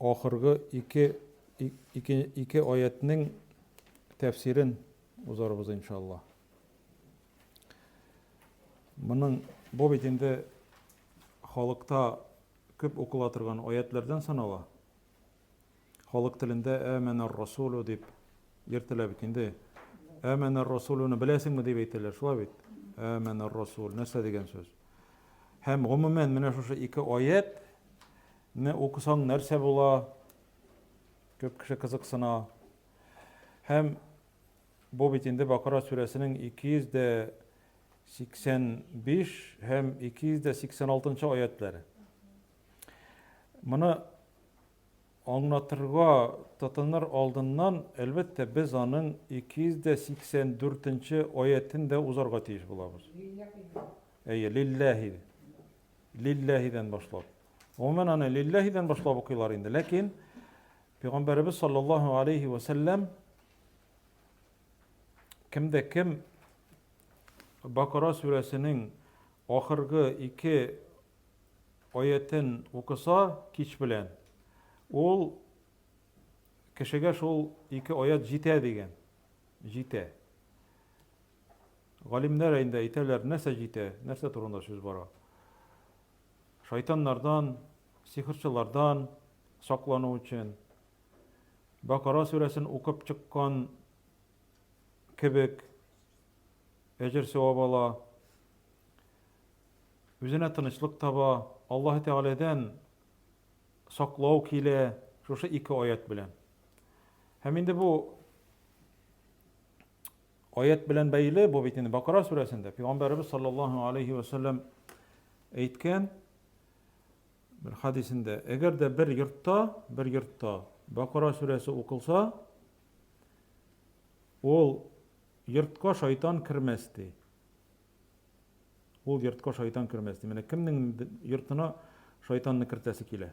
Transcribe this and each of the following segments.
Ахыргы ике ике ике аятьнең тәфсирен узарбыз иншалла. Моның бу бит инде халыкта күп укыла торган аятьләрдән санала. Халык телендә әмәнәр расулу дип йөртелә бит инде. Әмәнәр расулуны беләсеңме дип әйтәләр, шулай бит. Әмәнәр расул нәрсә дигән сүз? Һәм гомумән менә шушы ике аять Не укысаң нәрсә була? Күп кеше кызыксына. Һәм бу бит инде Бакара сүрәсенең 285 һәм 286 нчы аятьләре. Моны аңлатырга тотыныр алдыннан, әлбәттә, без аның 284 нче аятен дә узарга тиеш булабыз. Әйе, лилләһи. Лилләһидән башлап. Гомумән аны лилләһидән башлап укыйлар инде. Ләкин Пәйгамбәребез саллаллаһу алейхи ва саллям кемдә кем Бакара сүрәсенең ахыргы ике аятен укыса кич белән, ул кешегә шул ике аят җитә дигән. Җитә. Галимнәр инде әйтәләр, нәрсә җитә, нәрсә турында сүз бара. Шайтаннардан, сихерчылардан саклану өчен Бакара сүрәсен укып чыккан кебек әҗер-сәвап ала, үзенә тынычлык таба, Аллаһы Тәгаләдән саклау килә шушы ике аять белән. Һәм инде бу Аять белән бәйле, бу бит инде Бакара сүрәсендә Пәйгамбәребез саллаллаһу алейхи ва саллям әйткән бер хадисендә, әгәр дә бер йортта, бер йортта Бакара сүрәсе укылса, ул йортка шайтан кермәс ди. Ул йортка шайтан кермәс ди. Менә кемнең йортына шайтанны кертәсе килә?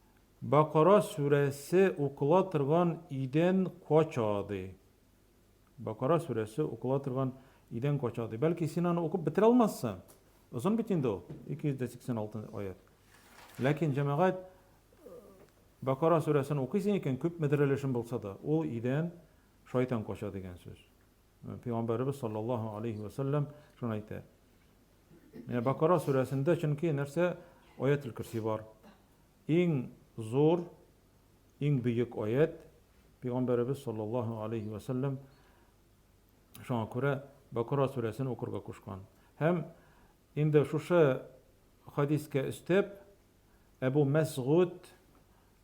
Бакара сүрәсе укыла торган идән кача, ди. Бакара сүрәсе укыла торган идән кача, ди. Бәлки, син аны укып бетерә алмассың. Озын бит инде ул, 286 аят. Ләкин, җәмәгать, Бакара сүрәсен укыйсың икән, күпмедер өлешен булса да, ул идән шайтан кача дигән сүз. Пәйгамбәребез саллаллаһу алейһи вә сәлләм шуны әйтә. Менә Бакара сүрәсендә чөнки нәрсә аятел кирси бар. Иң зур, иң бөек аят Пәйгамбәребез саллаллаһу алейһи вә сәлләм шуңа күрә Бакара сүрәсен укырга кушкан. Һәм инде шушы хадискә өстәп Әбу Мәсгуд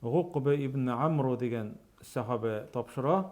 Гукбе ибн Амру дигән сахабә тапшыра.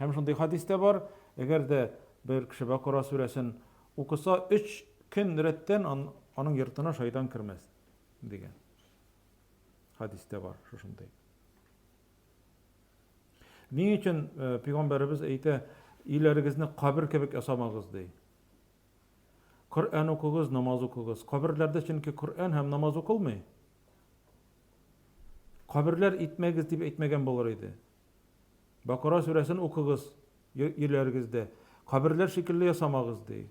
Һәм шундый хәдис тә бар, әгәр дә бер кеше Бакара сүрәсен укыса, өч көн рәттән аның йортына шайтан кермәс, дигән. Хәдис тә бар шушындый. Ни өчен э, пигамбәребез әйтә, иләрегезне кабер кебек ясамагыз ди. Коръән укыгыз, намаз укыгыз. Каберләрдә чөнки Коръән һәм намаз укылмый. Каберләр итмәгез дип әйтмәгән булыр иде. Бакара сүрәсен укыгыз йөрләрегездә. Каберләр шикелле ясамагыз, ди.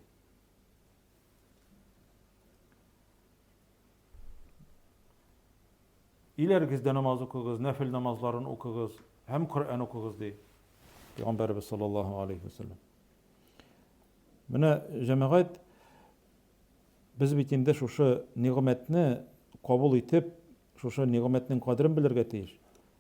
Иләрегездә намаз укыгыз, нәфил намазларын укыгыз һәм Коръән укыгыз, ди. Пәйгамбәрбез саллаллаһу алейхи ва саллям. Менә җәмәгать без бит инде шушы нигъмәтне кабул итеп, шушы нигъмәтнең кадерен белергә тиеш.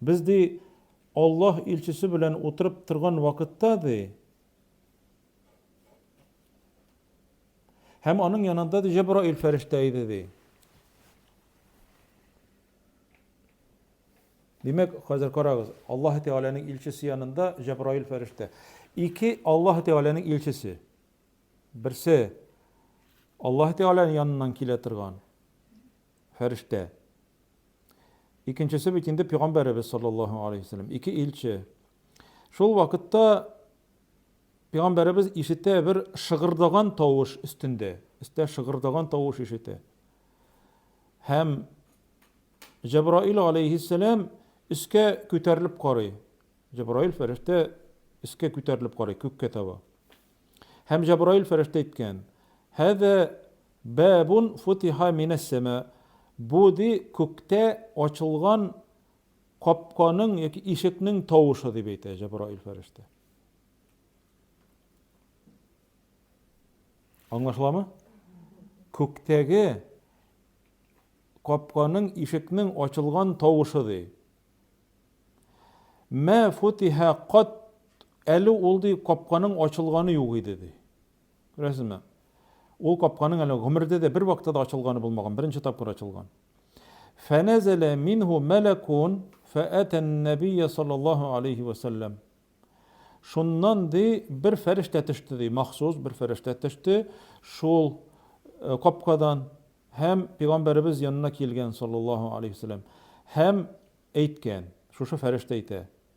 Без, ди, Аллаһ илчесе белән утырып торган вакытта, ди, һәм аның янында, ди, Җәбраил фәрештә иде, ди. Димәк, хәзер карагыз, Аллаһ Тәгаләнең илчесе янында Җәбраил фәрештә. Ике Аллаһ Тәгаләнең илчесе. Берсе Аллаһ Тәгаләнең яныннан килә торган. фәрештә. Икенчесе бит инде пигамбәребез саллаллаһу алейһи ва сәлләм, ике илче. Шул вакытта пигамбәребез ишетә бер шыгырдаган тавыш өстендә, өстә шыгырдаган тавыш ишетә. Һәм Җәбраил алейһи сәләм өскә күтәрелеп карый. Җәбраил фәрештә өскә күтәрелеп карый күккә таба. Һәм Җәбраил фәрештә әйткән: "Һәзә Бабун футиха минәс-сәма, бу, ди, күктә ачылган капканың яки ишекнең тавышы, дип әйтә Җәбраил фәрештә. Аңлашыламы? Күктәге капканың ишекнең ачылган тавышы, ди. Мә футиха кат, әле ул, ди, капканың ачылганы юк иде, ди. Күрәсезме? Ул капканың әле гомердә дә бер вакытта да ачылганы булмаган, беренче тапкыр ачылган. Фәнәзәлә минһу мәләкун фәәтән нәбия саллаллаһу алейһи вә сәлләм. Шуннан ди бер фәрештә төште ди, махсус бер фәрештә төште шул э, капкадан һәм пигамбәребез янына килгән саллаллаһу алейһи вә сәлләм һәм әйткән, шушы фәрештә әйтә.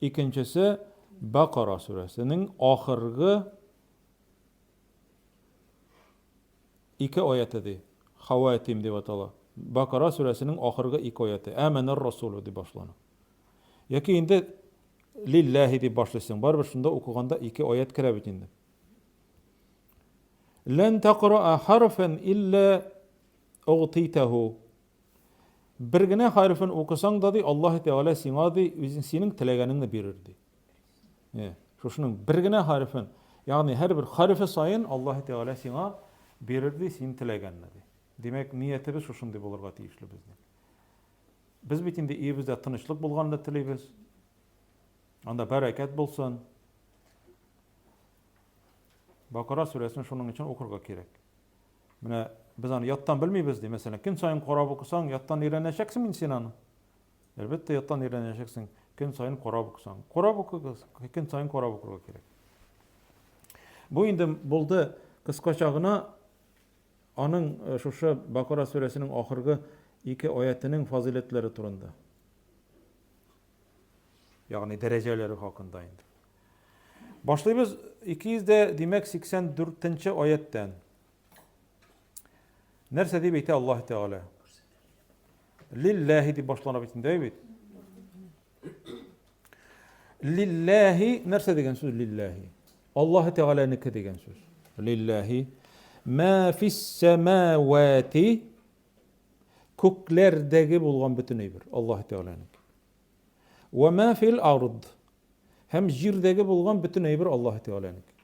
Икенчесе Бәкара сүрәсенең ахыргы ике аяте, ди. Хәвәтим дип атала. Бәкара сүрәсенең ахыргы ике аяте. Әмәнәр расулю дип башлана. Яки инде лилләһи дип башлыйсың. Барыбер шунда укыганда ике аят керә бит инде. Лән тәкъраа харфан илля угтитәһу Бер генә хәрефен укысаң да, ди, Аллаһы Тәгалә сиңа, ди, үзен синең теләгәнеңне бирер, ди. Э, шушының бер генә хәрефен, ягъни һәрбер хәрефе саен Аллаһы Тәгалә сиңа бирер, ди, син теләгәнне, ди. Димәк, ниятебез шушындый булырга тиешле безнең. Без бит инде өебездә тынычлык булганны телибез. Анда бәрәкәт булсын. Бакара сүрәсен шуның өчен укырга кирәк. Менә без аны яттан белмибез, ди. Мәсәлән, көн саен карап укысаң, яттан өйрәнәчәксеңме инде син аны? Әлбәттә, яттан өйрәнәчәксең, көн саен карап укысаң. Карап укыгыз, көн саен карап укырга кирәк. Бу инде булды кыскача гына аның э, шушы Бакара сүрәсенең ахыргы ике аятының фазыйләтләре турында. Ягъни дәрәҗәләре хакында инде. Башлыйбыз 200 дә, димәк 84 нче аяттән. Нәрсә дип әйтә Аллаһ Тәгалә? Лилләһи дип башлана бит инде бит. Лилләһи нәрсә дигән сүз лилләһи? Аллаһ Тәгаләнеке дигән сүз. Лилләһи ма фис самавати Күкләрдәге булган бөтен әйбер, Аллаһы Тәгаләнеке. Вә мә фил ард. Һәм җирдәге булган бөтен әйбер Аллаһы Тәгаләнеке.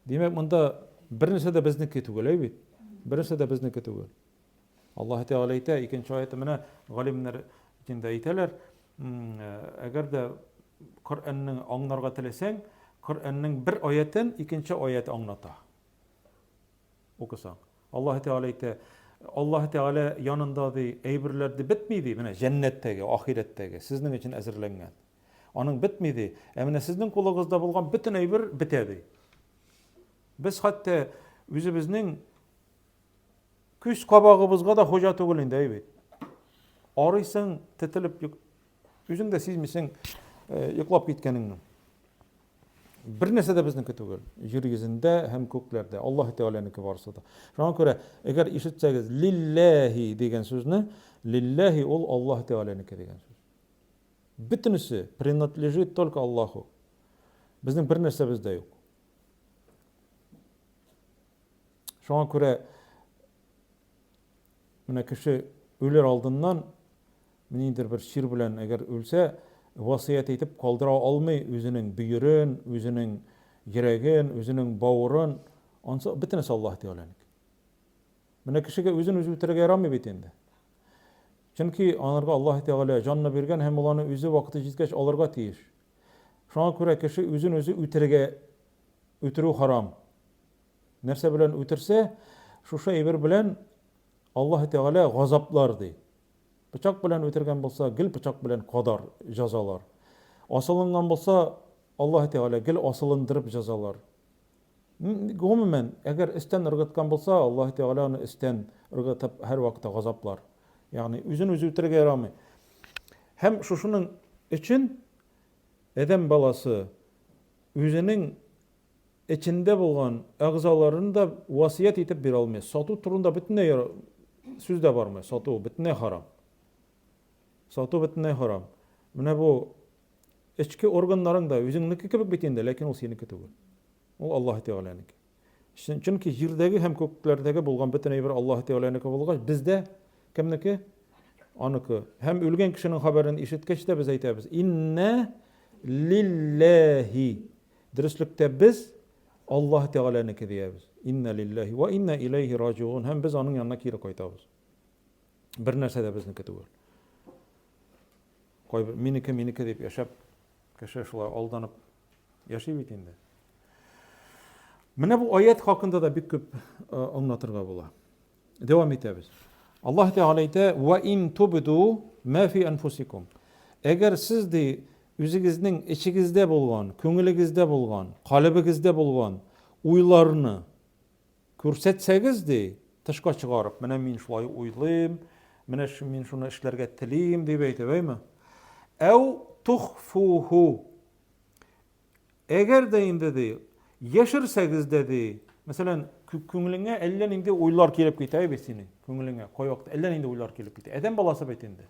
Димәк, монда бернәрсә дә безнеке түгел, әй бит. Бернәрсә дә безнеке түгел. Аллаһы Тәгалә әйтә, икенче аяты менә галимнәр динда әйтәләр, әгәр дә Коръәнне аңларга теләсәң, Коръәннең бер аятен икенче аят аңлата. Укысаң. Аллаһы Тәгалә әйтә, Аллаһы Тәгалә янында ди, әйберләр ди бетми ди, менә җәннәттәге, ахирәттәге, сезнең өчен әзерләнгән. Аның бетми ди, ә менә сезнең кулыгызда булган бөтен әйбер бетә ди. Без хәтта үзебезнең күз кабагыбызга да хуҗа түгел инде, әй бит. Арыйсың, тетелеп, үзең дә сизмисең, йоклап киткәнеңне. Бер нәрсә дә безнеке түгел. Җир йөзендә һәм күкләрдә. Аллаһы Тәгаләнеке барысы да. Шуңа күрә, әгәр ишетсәгез, лилләһи дигән сүзне, лилләһи ул Аллаһы Тәгаләнеке дигән сүз. Бөтенесе принадлежит только Аллаху. Безнең бер нәрсәбез дә юк. Шуңа күрә Менә кеше үлер алдыннан ниндидер бер чир белән әгәр үлсә, васыять итеп калдыра алмый үзенең бөерен, үзенең йөрәген, үзенең бавырын, ансы бөтенесе Аллаһ Тәгаләнеке. Менә кешегә үзен үзе үтерергә ярамый бит инде. Чөнки анарга Аллаһ Тәгалә җанны биргән һәм ул аны үзе вакыты җиткәч алырга тиеш. Шуңа күрә кеше үзен үзе үтерергә үтерү харам. Нәрсә белән үтерсә, шушы әйбер белән Аллаһы Тәгалә газаплар ди. Пычак белән үтергән булса, гел пычак белән кадар, җәзалар. Асылынган булса, Аллаһы Тәгалә гел асылындырып җәзалар. Гомумән, әгәр истән ыргыткан булса, Аллаһы Тәгалә аны истән ыргытып һәрвакыт газаплар. Ягъни үзен үзе үтерергә ярамый. Һәм шушының өчен адәм баласы үзенең эчендә булган әгъзаларын да васыять итеп бирә алмый. Сату турында бөтенләй сүз дә бармый. Сату бөтенләй харам. Сату бөтенләй харам. Менә бу эчке органнарың да үзеңнеке кебек бит инде, ләкин ул синеке түгел. Ул Аллаһ Тәгаләнеке. Чөнки җирдәге һәм күкләрдәге булган бөтен әйбер Аллаһ Тәгаләнеке булгач, бездә кемнеке? Аныкы. Һәм үлгән кешенең хәбәрен ишеткәч тә без әйтәбез: "Инна лилләһи" Дөреслектә без Аллаһы Тәгаләнеке диябез, Инна лиллаһи вә инна иләйһи раҗигун, һәм без аның янына кире кайтабыз. Бернәрсә дә безнеке түгел. Кайбер минеке, минеке дип яшәп, кеше шулай алданып яши бит инде. Менә бу аят хакында да бик күп аңлатырга була. Дәвам итәбез. Аллаһ Тәгалә әйтә, "Ва ин тубду ма фи анфусикум". Әгәр сез ди үзегезнең эчегездә булган, күңелегездә булган, калебегездә булган уйларны күрсәтсәгез ди, тышка чыгарып, менә мин шулай уйлыйм, менә мин шуны эшләргә телим дип әйтеп, әйме? Әү тухфуху. Әгәр дә инде, ди, яшерсәгез дә, ди, мәсәлән, күңелеңә әллә нинди уйлар килеп китә бит синең, күңелеңә кай вакыт әллә нинди уйлар килеп китә. Адәм баласы бит инде.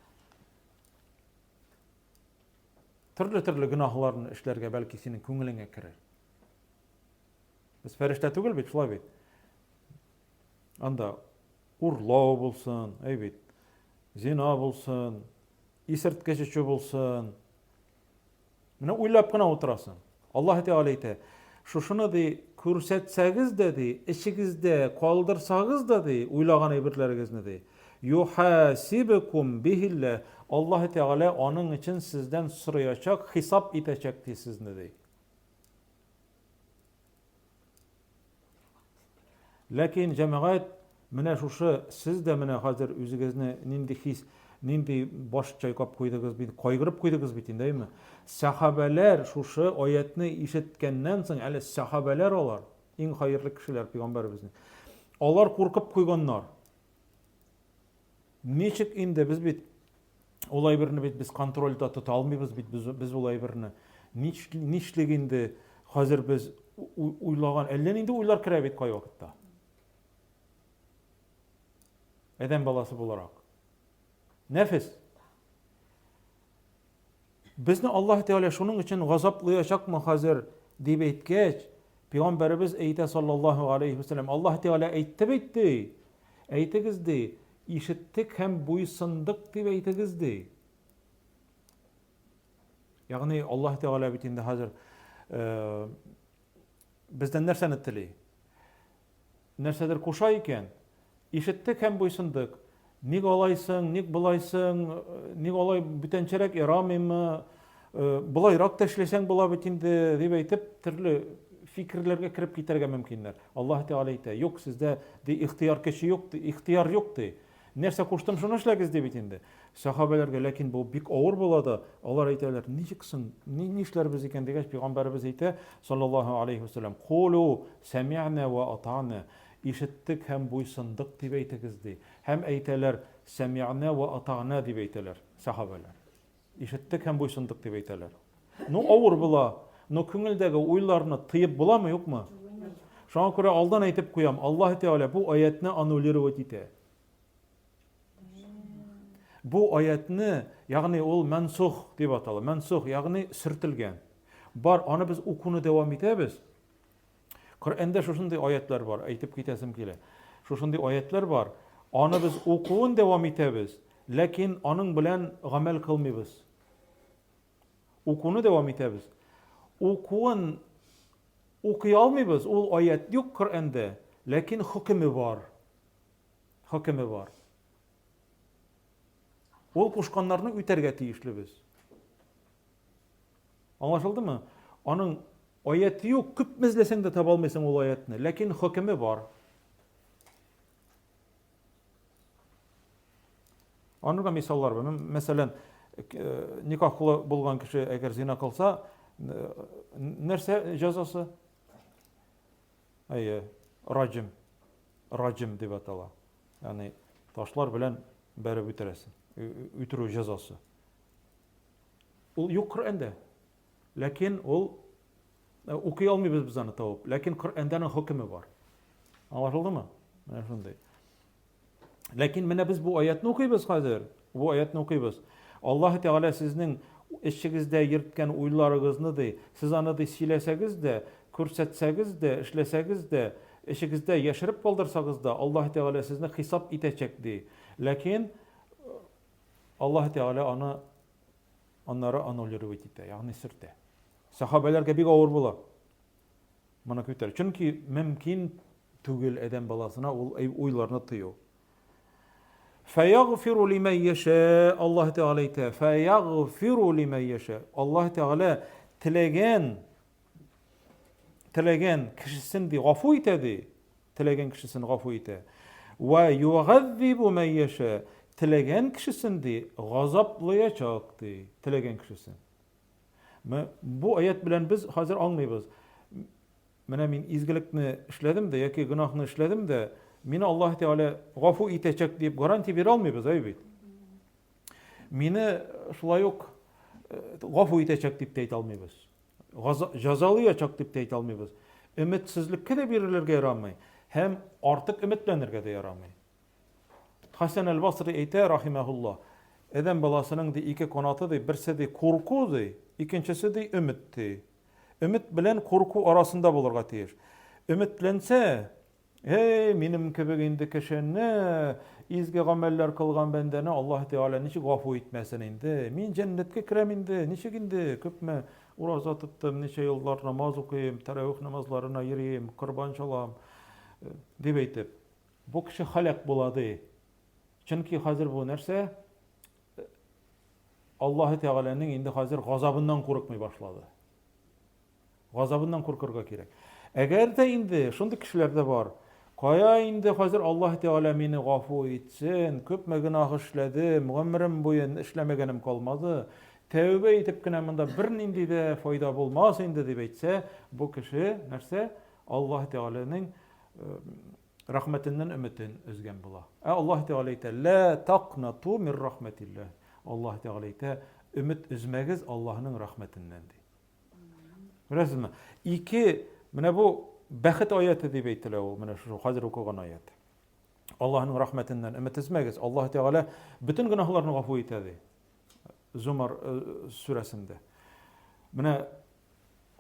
Төрле-төрле гөнаһларны эшләргә бәлки синең күңелеңә керер. Без фәрештә түгел бит, шулай бит. Анда урлау булсын, әй бит, зина булсын, исерткеч эчү булсын, Менә уйлап кына утырасың. Аллаһ Тәгалә әйтә, шушыны ди, күрсәтсәгез дә ди, эчегездә калдырсагыз да ди, уйлаган әйберләрегезне ди. Юхасибкум бихиллә, Аллаһ Тәгалә аның өчен сездән сораячак, хисап итәчәк ди сезне ди. Ләкин җәмәгать менә шушы сез дә менә хәзер үзегезне нинди хис, нинди баш чайкап куйдыгыз бит, кайгырып куйдыгыз бит инде, әйме? Сәхабәләр шушы аятны ишеткәннән соң, әле сәхабәләр алар, иң хәерле кешеләр пигамбәребезнең. Алар куркып куйганнар. Ничек инде, без бит ул әйберне бит без контрольда тота алмыйбыз бит без, без ул әйберне. Нишлек инде хәзер без уйлаган, әллә нинди уйлар керә бит кай вакытта. Әдәм баласы буларак. Нәфес. Безне Аллаһ Тәгалә шуның өчен газаплыячакмы хәзер дип әйткәч, Пәйгамбәребез әйтә саллаллаһу алейхи вәсәлләм, Аллаһ Тәгалә әйтте бит ди. Әйтегез ди, ишеттек һәм буйсындык дип әйтегез ди. Ягъни Аллаһ Тәгалә бит инде хәзер э, Бездән нәрсәне тели? Нәрсәдер куша икән, ишеттек һәм буйсындык. Ник алайсың, ник болайсың, ник алай бүтәнчәрәк ярамыймы, болайрак та эшләсәң була бит инде, дип әйтеп, төрле фикерләргә кереп китәргә мөмкиннәр. Аллаһ Тәгалә әйтә, юк, сездә ди ихтыяр көче юк, ихтыяр юк ди. Нәрсә куштым, шуны эшләгез, ди бит инде. Сәхабәләргә ләкин бу бик авыр була да, алар әйтәләр, ничек соң, ни, ни эшләрбез икән, дигәч, пәйгамбәребез әйтә, саллаллаһу алейһи вә сәлләм, Кулу сәмигънә вә атана, ишеттек һәм буйсындык дип әйтегез, ди. Һәм әйтәләр, сәмигънә вә атана дип әйтәләр сәхабәләр. Ишеттек һәм буйсындык дип әйтәләр. Ну, авыр була, но күңелдәге уйларны тыеп буламы, юкмы? Шуңа күрә алдан әйтеп куям, Аллаһ Тәгалә бу аятны аннулировать итә. Бу аятны, ягъни ул мансух дип атала. Мансух, ягъни сөртелгән. Бар, аны без укуны дәвам итәбез. Коръәндә шушындый аятьләр бар, әйтеп китәсем килә. Шушындый аятьләр бар. Аны без укуын дәвам итәбез, ләкин аның белән гамәл кылмыйбыз. Укуны дәвам итәбез. Укуын укый алмыйбыз, ул аят юк Коръәндә, ләкин хөкеме бар. Хөкеме бар. Ул кушканнарны үтәргә тиешле без. Аңлашылдымы? Аның аяте юк, күпме эзләсәң дә таба алмыйсың ул аятны, ләкин хөкеме бар. Аны да мисаллар бар. Мәсәлән, э, никахлы булган кеше әгәр зина кылса, э, нәрсә җәзасы? Әйе, раҗим. Раҗим дип атала. Ягъни ташлар белән бәреп үтерәсең. Үтерү җәзасы. Ул юк Коръәндә. Ләкин ул укый алмыйбыз без аны табып. Ләкин Коръәндә аның хөкеме бар. Аңлашылдымы? Менә шундый. Ләкин менә без бу аятны укыйбыз хәзер. Бу аятны укыйбыз. Аллаһ Тәгалә сезнең эчегездә йөрткән уйларыгызны ди, сез аны ди сөйләсәгез дә, күрсәтсәгез дә, эшләсәгез дә, эчегездә яшереп калдырсагыз да, Аллаһ Тәгалә сезне хисап итәчәк ди. Ләкин Аллаһы Тәгалә аны аннары аннулировать итә, ягъни сөртә. Сахабәләргә бик авыр була моны күтәрү. Чөнки мөмкин түгел адәм баласына ул уйларны тыю. Фаягфиру лиман яша, Аллаһ Тәгалә әйтә, фаягфиру лиман яша. Аллаһ Тәгалә теләгән Теләгән кешесен ди гафу итә ди. Теләгән кешесен гафу итә. Ва югаззибу ман яша. Теләгән кешесен ди газаплаячак ди. Теләгән кешесен. Бу аят белән без хәзер аңлыйбыз. Менә мин изгелекне эшләдем дә яки гөнаһны эшләдем дә, мине Аллаһ Тәгалә гафу итәчәк дип гарантия бирә алмыйбыз, әй бит. Мине шулай ук э, гафу итәчәк дип тә әйтә алмыйбыз. газа, җәзалый ачак дип тә әйтә алмыйбыз. Өметсезлеккә дә бирелергә ярамый һәм артык өметләнергә дә ярамый. Хәсән әл-Басри әйтә, рахимәһулла, Адәм баласының ди ике канаты ди, берсе ди курку ди, икенчесе ди өмет ди. Өмет белән курку арасында булырга тиеш. Өметләнсә, Һей, минем кебек инде кешене, изге гамәлләр кылган бәндәне Аллаһ Тәгалә ничек гафу итмәсен инде? Мин җәннәткә керәм инде, ничек инде? Күпме ураза тоттым, ничә еллар намаз укыйм, тәрәвих намазларына йөрим, корбан чалам, дип әйтеп. Бу кеше халәк була, ди. Чөнки хәзер бу нәрсә? Аллаһ Тәгаләнең инде хәзер газабыннан курыкмый башлады. Газабыннан куркырга кирәк. Әгәр дә инде шундый кешеләр дә бар, кая инде хәзер Аллаһ Тәгалә мине гафу итсен, күпме гөнаһ эшләдем, гомерем буен эшләмәгәнем калмады, тәүбә итеп кенә монда бернинди дә файда булмас инде дип әйтсә, бу кеше нәрсә? Аллаһ Тәгаләнең рәхмәтеннән өметен өзгән була. Ә Аллаһ Тәгалә әйтә, лә тақнату мир рахмәтилләһ. Аллаһ Тәгалә әйтә, өмет өзмәгез Аллаһның рәхмәтеннән ди. Күрәсезме? Ике, менә бу бәхет аяты дип әйтелә ул, менә шул хәзер укыган аят. Аллаһның рәхмәтеннән өмет өзмәгез. Аллаһ Тәгалә бөтен гөнаһларны гафу итә ди. Зумар э, сүрәсендә. Менә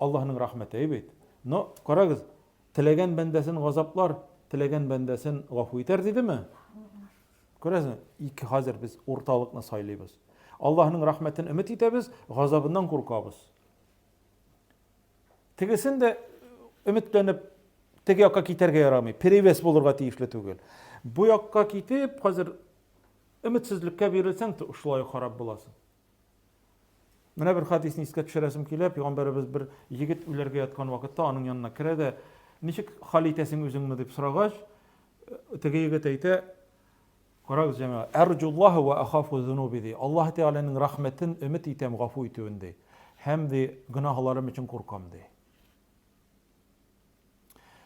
Аллаһның рәхмәте бит. Но карагыз, теләгән бәндәсен газаплар, теләгән бәндәсен гафу итәр дидеме? Күрәсең, ике хәзер без урталыкны сайлыйбыз. Аллаһның рәхмәтен өмет итәбез, газабыннан куркабыз. Тегесен дә өметләнеп теге якка китәргә ярамый, перевес булырга тиешле түгел. Бу якка китеп, хәзер өметсезлеккә бирелсәң, шулай харап буласың. Менә бер хадисне искә төшерәсем килә, пәйгамбәребез бер егет үләргә яткан вакытта аның янына керә дә, ничек хәл итәсең үзеңне дип сорагач, теге егет әйтә, карагыз җәмәгать, әрҗуллаһу ва ахафу зунуби ди. Аллаһ Тәгаләнең рәхмәтен өмет итәм, гафу итүен ди. Һәм ди, гөнаһларым өчен куркам ди.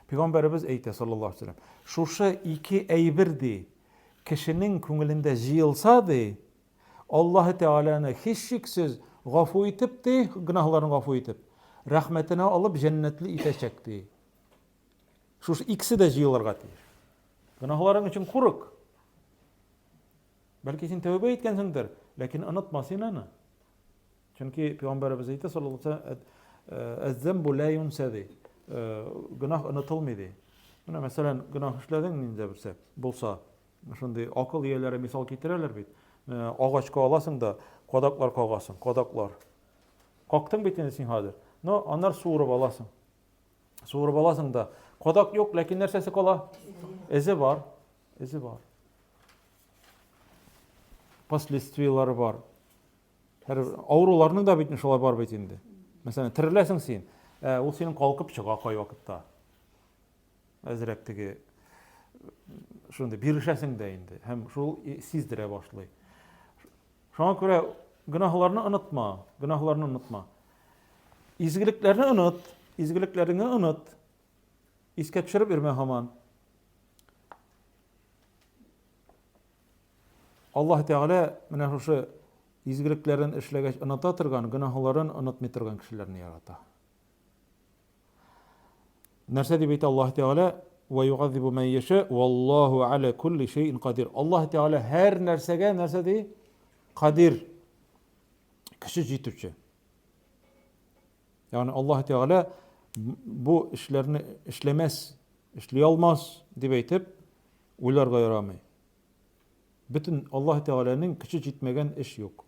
Пәйгамбәребез әйтә саллаллаһу алейхи вәсәлләм, шушы ике әйбер ди, кешенең күңелендә җыелса ди, Аллаһы Тәгаләне, һичшиксез, гафу итеп, ди, гөнаһларын гафу итеп, рәхмәтенә алып, җәннәтле итәчәк, ди. Шушы икесе дә җыелырга тиеш. Гөнаһларың өчен курык. Бәлки син тәүбә иткәнсеңдер, ләкин онытма син аны. Чөнки пәйгамбәребез әйтә саллаллаһу алейһи ва саллям, «Э, «Әз-замбу ла юнса» ди. Э, гөнаһ онытылмый ди. Менә мәсәлән, гөнаһ эшләдең нинди берсе булса, Шундый акыл ияләре мисал китерәләр бит. Агачка аласың да, кадаклар кагасың, кадаклар. Кактың бит инде син хәзер. Но аннар суырып аласың. Суырып аласың да. Кадак юк, ләкин нәрсәсе кала? Эзе бар. Эзе бар. Последствияләре бар. Һәр авыруларның да бит шулай бар бит инде. Мәсәлән, тереләсең син. Ә, ул синең калкып чыга кай вакытта. Әзрәк теге шундый бирешәсең дә инде һәм шул сиздерә башлый. Шуңа күрә гөнаһларны онытма, гөнаһларны онытма. Изгелекләрне оныт, изгелекләреңне оныт. Искә төшереп йөрмә һаман. Аллаһ Тәгалә менә шушы изгелекләрен эшләгәч оныта торган, гөнаһларын онытмый торган кешеләрне ярата. Нәрсә дип әйтә Аллаһ Тәгалә? Ва югазибу мән яша, валлаһу аля кулли шәйин кадир. Аллаһ Тәгалә һәр нәрсәгә нәрсә ди? Кадир. Кеше җитүче. Ягъни Аллаһ Тәгалә бу эшләрне эшләмәс, эшли алмас дип әйтеп уйларга ярамый. Бөтен Аллаһ Тәгаләнең көче җитмәгән эш юк.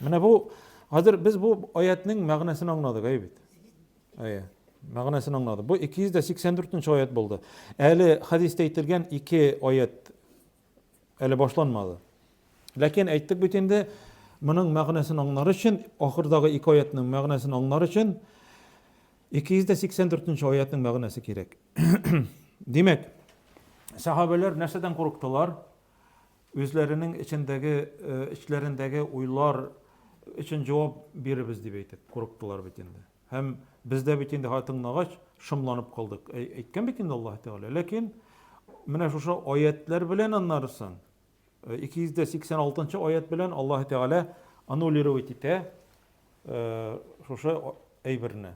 Менә бу хәзер без бу аятның мәгънәсен аңладык, әй бит. Әйе. Мәгънәсен аңладык. Бу 284 нче аят булды. Әле хәдистә әйтелгән ике аят әле башланмады. Ләкин әйттек бит инде, моның мәгънәсен аңлар өчен, ахырдагы ике аятның мәгънәсен аңлар өчен 284 нче аятның мәгънәсе кирәк. Димәк, сәхабәләр нәрсәдән курыктылар? Үзләренең эчендәге, э, эчләрендәге уйлар өчен җавап биребез дип әйтеп курыктылар бит инде. Һәм бездә бит инде тыңлагач шомланып калдык. Әйткән бит инде Аллаһ Тәгалә. Ләкин менә шушы аятлар белән аннарысын 286 э, аят белән Аллаһ Тәгалә аннулировать итә э, шушы әйберне.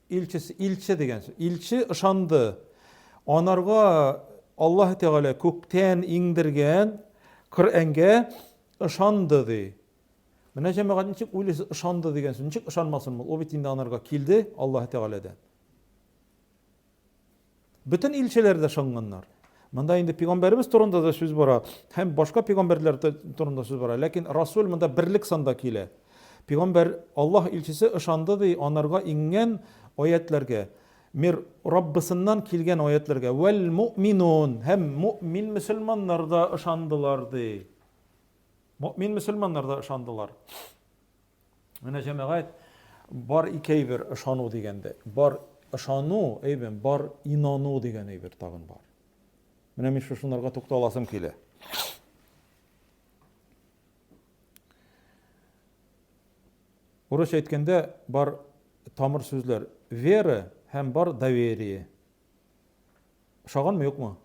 Илчесе, илче дигән сүз. Илче ышанды. Анарга Аллаһы Тәгалә күктән иңдергән Коръәнгә ышанды ди. Менә җәмәгать ничек уйлыйсыз, ышанды дигән сүз. Ничек ышанмасын ул? Ул бит инде анарга килде Аллаһы Тәгаләдән. Бөтен илчеләр дә шыңганнар. Монда инде пигамбәребез турында да сүз бара һәм башка пигамбәрләр турында сүз бара. Ләкин Расул монда берлек санда килә. Пигамбәр Аллаһ илчесе ышанды ди анарга иңгән аятьләргә, мир Раббысыннан килгән аятьләргә, вәл муъминун һәм муъмин мөселманнар да ышандылар ди. Муъмин мөселманнар да ышандылар. Менә җәмәгать бар икәйбер ышану дигәндә, бар ышану, әйбен, бар инану дигән әйбер тагын бар. Менә мин шушынарга тукталасым килә. Урысча әйткәндә бар тамыр сүзләр вера һәм бар доверие. Ошаганмы, юкмы?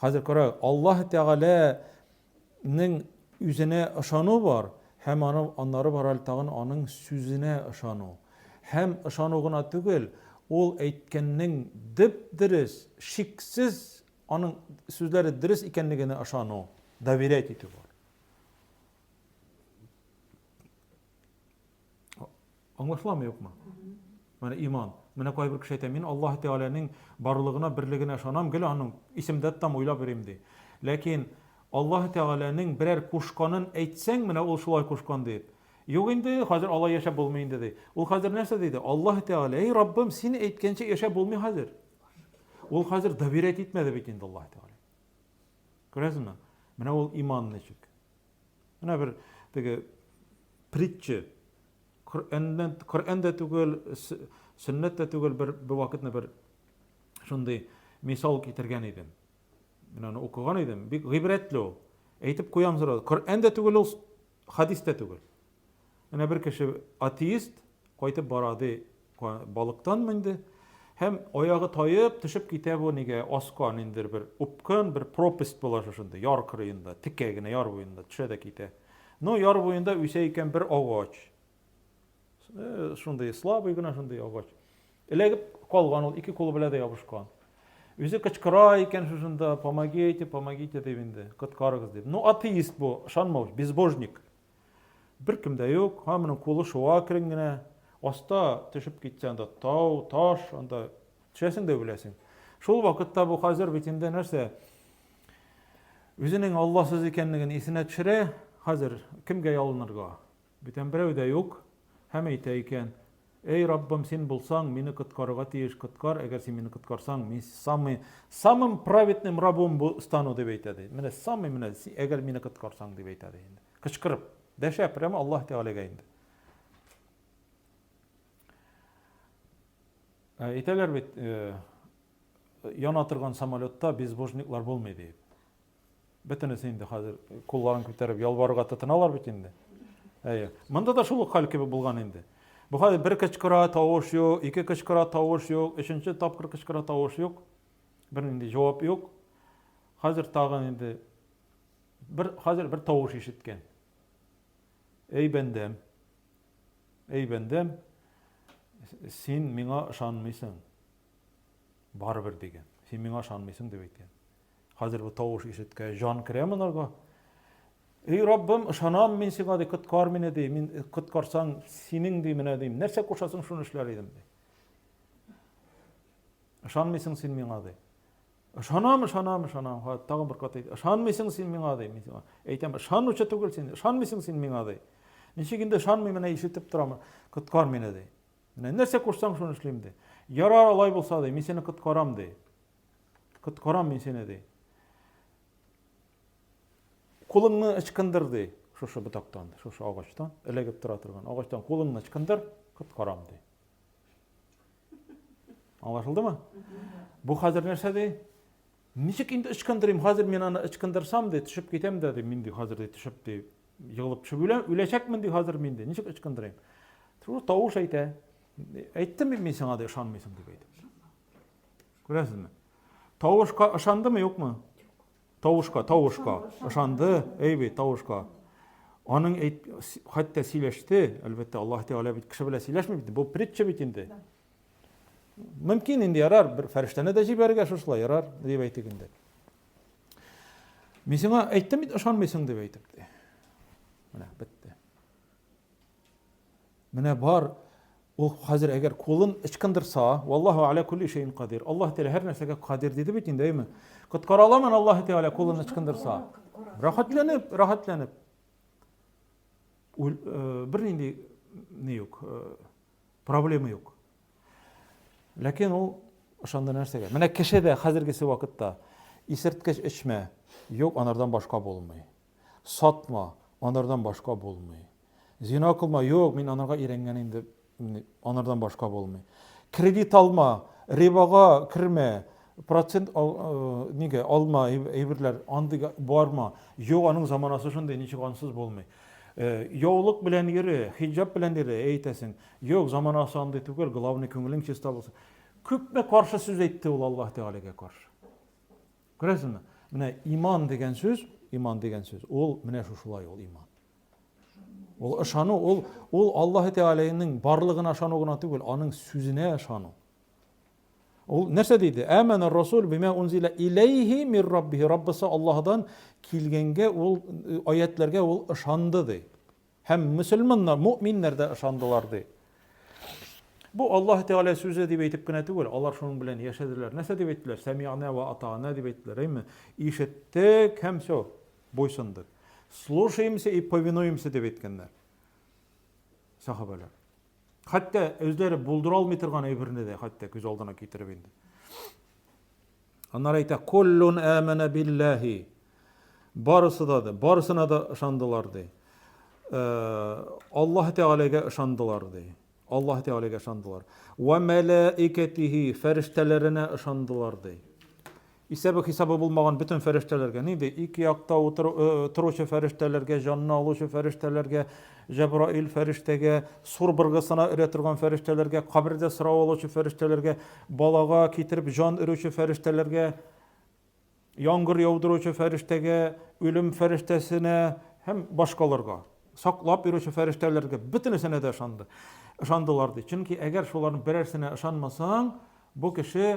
Хәзер кара, Аллаһ Тәгаләнең үзенә ышану бар һәм аны аннары бар әле тагын аның сүзенә ышану. Һәм ышану гына түгел, ул әйткәннең дип дөрес, шиксез аның сүзләре дөрес икәнлегенә ышану, доверять итү бар. Аңлашыламы, юкмы? Менә иман. Менә кайбер кеше әйтә, мин Аллаһ Тәгаләнең барлыгына, берлегенә ышанам, гел аның исемдә тотам, уйлап йөрим ди. Ләкин Аллаһ Тәгаләнең берәр кушканын әйтсәң, менә ул шулай кушкан дип. Юк инде, хәзер алай яшәп булмый инде ди. Ул хәзер нәрсә диде? Аллаһ Тәгалә, эй Раббым, син әйткәнчә яшәп булмый хәзер. Ул хәзер доверять итмәде бит инде Аллаһ Тәгалә. Күрәсезме? Менә ул иман ничек. Менә бер теге притча Коръәннән Коръән дә түгел, сөннәт тә түгел, бер бер вакытны бер шундый мисал китергән идем. Мин аны укыган идем, бик гыйбрәтле ул. Әйтеп куям зур. Коръән дә түгел ул, хадис тә түгел. Менә бер кеше, атеист, кайтып бара, ди, балыктанмы инде, һәм аягы таеп, төшеп китә бу нигә, аска, ниндер бер упкын, бер пропасть була шушында, яр кырыенда, текә генә яр буенда төшә дә китә. Ну, яр буенда үсә икән бер агач. Э, шундый слабый гына шундый агач. Эләгеп калган ул, ике кулы белән дә ябышкан. Үзе кычкыра икән шушында, помогите, помогите дип инде, коткарыгыз дип. Ну, атеист бу, ышанмау, безбожник. Беркем дә юк, һамының кулы шуа керен генә. Аста төшеп китсә, анда тау, таш, анда төшәсең дә беләсең. Шул вакытта бу хәзер бит инде нәрсә? Үзенең Алласыз икәнлеген исенә төшерә, хәзер кемгә ялынырга? Бүтән берәү дә юк, һәм әйтә икән, Эй, Раббым, Син булсаң, мине коткарырга тиеш, коткар, әгәр Син мине коткарсаң, мин самый, самым праведным рабом бу, стану, дип әйтә, ди. Менә самый, менә, си, әгәр мине коткарсаң, дип әйтә, ди инде. Кычкырып, дәшә прямо Аллаһ Тәгаләгә инде. Ә, әйтәләр бит, э, яна торган самолетта безбожниклар булмый, диеп. Бөтенесе инде хәзер кулларын күтәреп ялварырга тотыналар бит инде. Әйе. Монда да шул ук хәл кебек булган инде. Бу хәзер бер кычкыра, тавыш юк, ике кычкыра, тавыш юк, өченче тапкыр кычкыра, тавыш юк. Бернинди җавап юк. Хәзер тагын инде бер хәзер бер тавыш ишеткән. Әй бәндәм. Әй бәндәм, син миңа ышанмыйсың. Барыбер дигән. Син миңа ышанмыйсың дип әйткән. Хәзер бу тавыш ишеткәч, җан керә монарга. Эй, Раббым, ышанам мин сиңа, ди, коткар мине, ди, мин э, коткарсаң, синең, ди, менә, дим, нәрсә кушасың, шуны эшләр идем, ди. Ышанмыйсың син миңа, ди. Ышанам, ышанам, ышанам, ха, тагын бер кат әйт. Ышанмыйсың син миңа, ди, мин сиңа. Әйтәм, ышанучы түгел син, ышанмыйсың син миңа, ди. Ничек инде ышанмыйм, менә ишетеп торам, коткар мине, ди. Менә нәрсә кушсаң, шуны эшлим, ди. Ярар, алай булса, ди, мин сине коткарам, ди. Коткарам мин сине, ди. Кулыңны ычкындыр, ди. Шушы ботактан, ди, шушы агачтан, эләгеп тора торган агачтан кулыңны ычкындыр, коткарам, ди. Аңлашылдымы? Бу хәзер нәрсә, ди? Ничек инде ычкындырыйм? Хәзер мин аны ычкындырсам, ди, төшеп китәм дә, ди, мин ди, хәзер ди, төшеп ди, егылып төшеп үләм, үләчәкмен ди, хәзер мин ди. Ничек ычкындырыйм? Шул тавыш әйтә. Әйттем мин сиңа, ди, ышанмыйсың дип әйтеп. Күрәсезме? Тавышка ышандымы, юкмы? Тавышка, тавышка. Ышанды, әй бит, тавышка. Аның әйт, хәтта сөйләште, әлбәттә, Аллаһ Тәгалә бит кеше белән сөйләшми бит, бу притча бит инде. Мөмкин инде ярар, бер фәрештәне дә җибәрергә шушылай ярар, дип әйтик инде. Мин сиңа әйттем бит, ышанмыйсың дип әйтеп. Менә бетте. Менә бар Ул хәзер әгәр кулын ычкындырса, валлаһу аля кулли шәйин кадир. Аллаһ Тәгалә һәр нәрсәгә кадир диде бит инде, әйме? Коткара аламын Аллаһ Тәгалә кулын ычкындырса. Рәхәтләнеп, рәхәтләнеп. Ул э, бернинди ни юк, э, проблема юк. Ләкин ул ошанда нәрсәгә? Менә кеше дә хәзергесе вакытта исерткеч эчмә, юк, анардан башка булмый. Сатма, анардан башка булмый. Зина кылма, юк, мин анарга өйрәнгән инде, анардан башка булмый. Кредит алма, рибага кермә, процент э, нигә алма әйберләр, андыйга барма. Юк, аның заманасы шундый, ничек ансыз булмый. Э, яулык белән йөре, хиҗаб белән йөре, әйтәсең. Юк, заманасы андый түгел, главный күңелең чиста булсын. Күпме каршы сүз әйтте ул Аллаһ Тәгаләгә каршы. Күрәсезме? Менә иман дигән сүз, иман дигән сүз, ул менә шушылай ул иман. Ул ышану, ул ул Аллаһ Тәгаләнең барлыгына ышану гына түгел, аның сүзенә ышану. Ул нәрсә диде? Әмәна расул бима унзила илейхи мир раббихи. Раббысы Аллаһдан килгәнгә ул аятларга ул ышанды ди. Һәм мөселманнар, мөэминнәр дә ышандылар, ди. Бу Аллаһ Тәгалә сүзе дип әйтеп кенә түгел, алар шуның белән яшәделәр. Нәрсә дип әйттеләр? Сәмигънә вә атаъна дип әйттеләр, әйме? Ишеттек һәм все, буйсындык. Слушаемся и повинуемся дип әйткәннәр сахабәләр. Хәтта үзләре булдыра алмый торган әйберне дә хәтта күз алдына китереп инде. Аннары әйтә, "Куллун амана биллахи" барысы да ди, барысына да ышандылар ди. Э, Аллаһ Тәгаләгә ышандылар ди. Аллаһ Тәгаләгә ышандылар. Ва мәлаикатихи фәрештәләренә ышандылар ди. Исәбе-хисабы булмаган бөтен фәрештәләргә, нинди, ике якта торучы фәрештәләргә, җанны алучы фәрештәләргә, Җәбраил фәрештәгә, сур быргысына өрә торган фәрештәләргә, кабердә сорау алучы фәрештәләргә, балага китереп җан өрүче фәрештәләргә, яңгыр яудыручы фәрештәгә, үлем фәрештәсенә һәм башкаларга, саклап йөрүче фәрештәләргә, бөтенесенә дә ышанды. Ышандылар ди. Чөнки әгәр шуларның берәрсенә ышанмасаң, бу кеше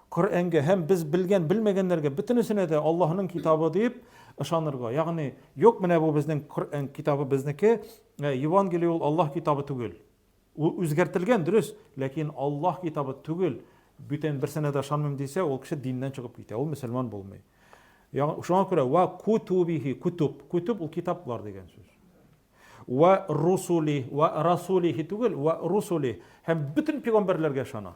Коръәнгә һәм без белгән, белмәгәннәргә бөтенесенә дә Аллаһының китабы дип ышанырга. Ягъни, юк, менә бу безнең Коръән китабы безнеке, ә Евангелие ул Аллаһ китабы түгел. Ул үзгәртелгән, дөрес, ләкин Аллаһ китабы түгел. Бүтән берсенә дә ышанмыйм дисә, ул кеше диннән чыгып китә, ул мөселман булмый. Ягъни, шуңа күрә ва кутубихи, кутуб, кутуб ул китаплар дигән сүз. Ва русули, ва расулихи түгел, ва русули һәм бөтен пигамбәрләргә ышана.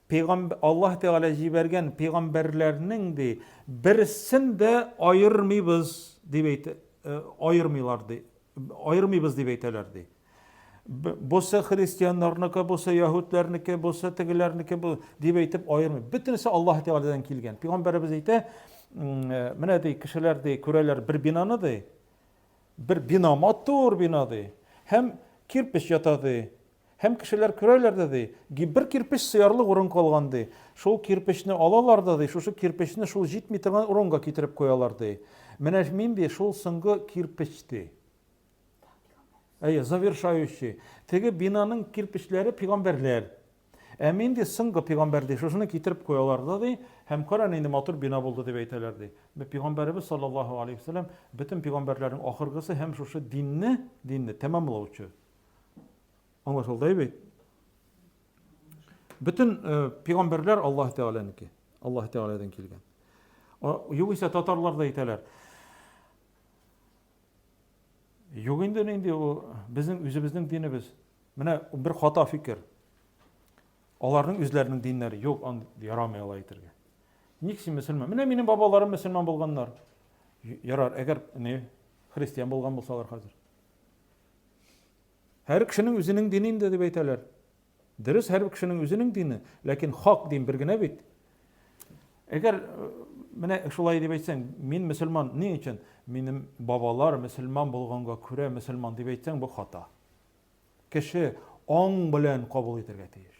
Пәйгамб Аллаһ Тәгалә җибәргән пәйгамбәрләрнең, ди, берсен дә аермыйбыз, дип әйтә, аермыйлар, ди, аермыйбыз дип әйтәләр, ди. Бусы христианнарныкы, бусы яһүдләрнеке, бусы тегеләрнеке бу дип әйтеп аермый. Бөтенесе Аллаһ Тәгаләдән килгән. Пәйгамбәребез әйтә, менә ди, кешеләр ди, күрәләр бер бинаны ди, бер бина, матур бина ди, һәм кирпич ята ди, Һәм кешеләр күрәләр дә, ди, ки, бер кирпеч сыярлык урын калган, ди. Шул кирпечне алалар да, ди, шушы кирпечне шул җитми торган урынга китереп куялар, ди. Менә мин, ди, шул соңгы кирпеч, ди. Әйе, завершающий. Теге бинаның кирпечләре пигамбәрләр. Ә мин, ди, соңгы пигамбәр, ди, шушыны китереп куялар да, ди, һәм кара, нинди матур бина булды, дип әйтәләр, ди. Пигамбәребез саллаллаһу алейһи ва сәлләм бөтен пигамбәрләрнең ахыргысы һәм шушы динне, динне тәмамлаучы. Аңлашылды бит. Бөтен э, пигамбәрләр Аллаһ Тәгаләнеке. Аллаһ Тәгаләдән килгән. Югыйсә татарлар да әйтәләр. Юк инде нинди ул безнең үзебезнең динебез. Менә бер хата фикер. Аларның үзләренең диннәре юк, ан ярамый алай әйтергә. Ник син мөселман? Менә минем бабаларым мөселман булганнар. Ярар, әгәр не христиан булган булсалар хәзер. Һәр кешенең үзенең дине инде дип әйтәләр. Дөрес, һәр кешенең үзенең дине, ләкин хак дин бер генә бит. Әгәр э, менә шулай дип әйтсәң, мин мөселман, ни өчен? Минем бабалар мөселман булганга күрә мөселман дип әйтсәң, бу хата. Кеше аң белән кабул итәргә тиеш.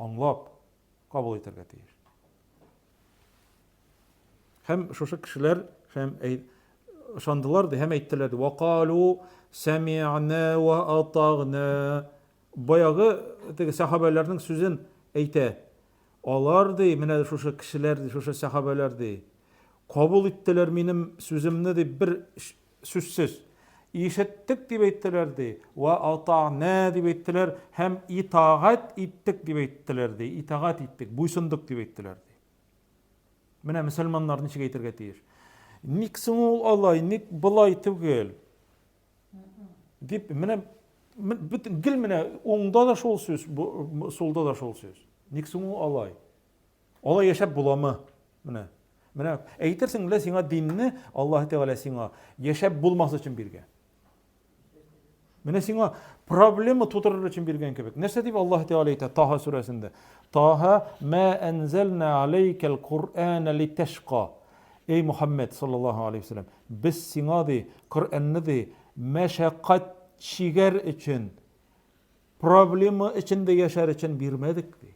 аңлап кабул итәргә тиеш. Һәм шушы кешеләр һәм ышандылар ди һәм әйттеләр ди. Вакалу сәми'на ва атагна. Баягы теге сахабәләрнең сүзен әйтә. Алар ди, менә шушы кешеләр ди, шушы сахабәләр ди. Кабул иттеләр минем сүземне дип бер Сүзсез. Ишеттек дип әйттеләр, ди, вә ата'нә дип әйттеләр һәм итагать иттек дип әйттеләр, ди, итагать иттек, буйсындык дип әйттеләр, ди. Менә мөселманнар ничек әйтергә тиеш. Ник соң ул алай, ник былай түгел? Дип, менә бөтен гел менә уңда да шул сүз, сулда да шул сүз. Ник соң ул алай? Алай яшәп буламы? Менә. Менә әйтерсең лә сиңа динне Аллаһ Тәгалә сиңа яшәп булмас өчен биргән. Менә сиңа проблема тудырыр өчен биргән кебек. Нәрсә дип Аллаһ Тәгалә әйтә Таһа сүрәсендә? Таһа ма анзална алейкал Кур'ана литашка. Эй Мухаммед саллаллаһу алейхи вассалам, без сиңа ди Коръәнне ди мәшәкать чигәр өчен, проблема эчендә яшәр өчен бирмәдек ди.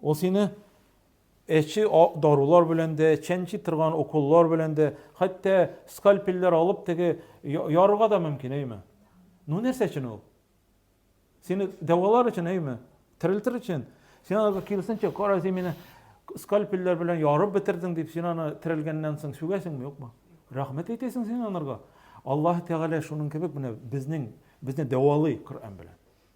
Ул сине әче дарулар белән дә, чәнчи торган уколлар белән дә, хәтта скальпельләр алып теге ярырга да мөмкин, әйме? Ну нәрсә өчен ул? Сине дәвалар өчен, әйме? Терелтер өчен. Син аны киресенчә, кара, син мине скальпельләр белән ярып бетердең дип, син аны терелгәннән соң сүгәсеңме, юкмы? Рәхмәт әйтәсең син анарга. Аллаһ Тәгалә шуның кебек менә безнең безне дәвалый Коръән белән.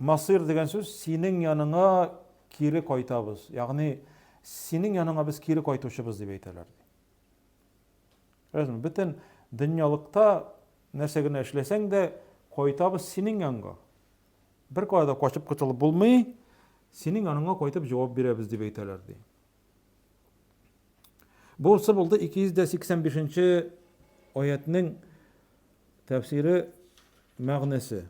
Насыйр дигән сүз, синең яныңа кире кайтабыз, ягъни синең яныңа без кире кайтучыбыз дип әйтәләр, ди. Күрәсезме, бөтен дөньялыкта нәрсә генә эшләсәң дә, кайтабыз синең янга. Беркая да качып котылып булмый, синең яныңа кайтып җавап бирәбез дип әйтәләр, ди. Бунсы булды 285 нче аятьнең тәфсире мәгънәсе.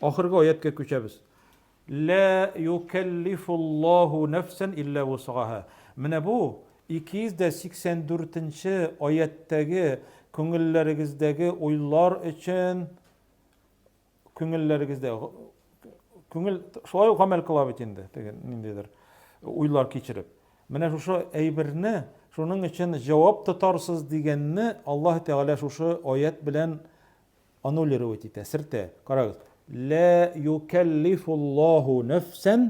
Ахыргы аяткә күчәбез. Лә юкәллифуллаху нәфсән илля вусгаһа. Менә бу 284 нче аяттәге күңелләрегездәге уйлар өчен күңелләрегездә күңел шулай ук гамәл кыла бит инде, теге ниндидер уйлар кичереп. Менә шушы әйберне шуның өчен җавап тотарсыз дигәнне Аллаһ Тәгалә шушы аят белән аннулировать итә, сертә. Карагыз, лә юкәллифуллаһу нәфсән,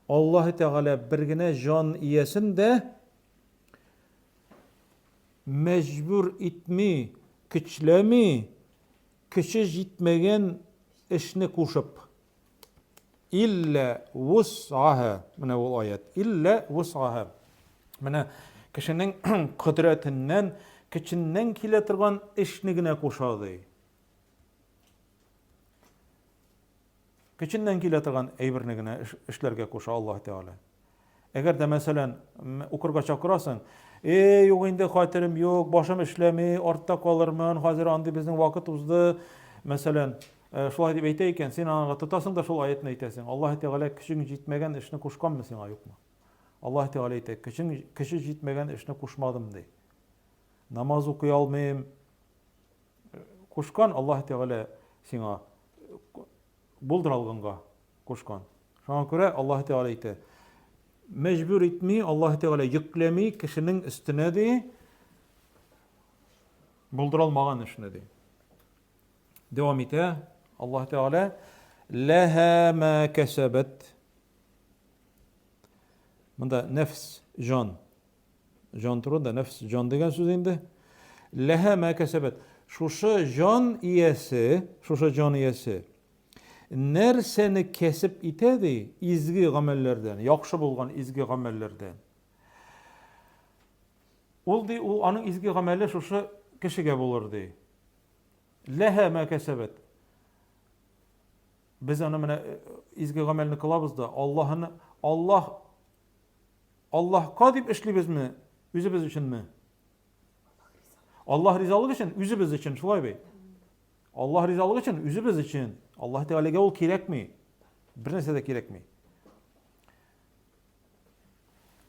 Аллаһы Тәгалә бер генә җан иясен дә мәҗбүр итми, көчләми, көче җитмәгән эшне кушып. Иллә вус'аһа. Менә ул аят. Иллә вус'аһа. Менә кешенең кодрәтеннән, көченнән килә торган эшне генә куша, ди. Көченнән килә торган әйберне генә эшләргә куша Аллаһ Тәгалә. Әгәр дә, мәсәлән, укырга чакырасың, Эй, юк инде, хәтерем юк, башым эшләми, артта калырмын, хәзер андый безнең вакыт узды. Мәсәлән, э, шулай дип әйтә икән, син аңа тотасың да шул аятны әйтәсең. Аллаһ Тәгалә көчең җитмәгән эшне кушканмы сиңа, юкмы? Аллаһ Тәгалә әйтә, көчең кеше җитмәгән эшне кушмадым ди. Намаз укый алмыйм. Кушкан Аллаһ Тәгалә сиңа булдыра алганга. Кушкан. Шуңа күрә Аллаһы Тәгалә әйтә, Мәҗбүр итми, Аллаһы Тәгалә йөкләми кешенең өстенә, ди, булдыра алмаган эшне, ди. Дәвам итә Аллаһы Тәгалә, Ләһә мә кәсәбәт. Монда нәфс, җан. Җан турында нәфс, җан дигән сүз инде. Ләһә мә кәсәбәт. Шушы җан иясе, шушы җан иясе Нәрсәне кәсеп итә, ди, изге гамәлләрдән, яхшы булган изге гамәлләрдән? Ул, ди, ул аның изге гамәле шушы кешегә булыр, ди. Ләһә мә кәсәбәт. Без аны менә э, изге гамәлне кылабыз да, Аллаһны Аллаһ Аллаһка дип эшлибезме, үзебез өченме? Аллаһ ризалыгы өчен, үзебез өчен, шулай бит. Аллаһ ризалыгы өчен, үзебез өчен. Аллаһ Тәгаләгә ул кирәкми. Бер нәрсә дә кирәкми.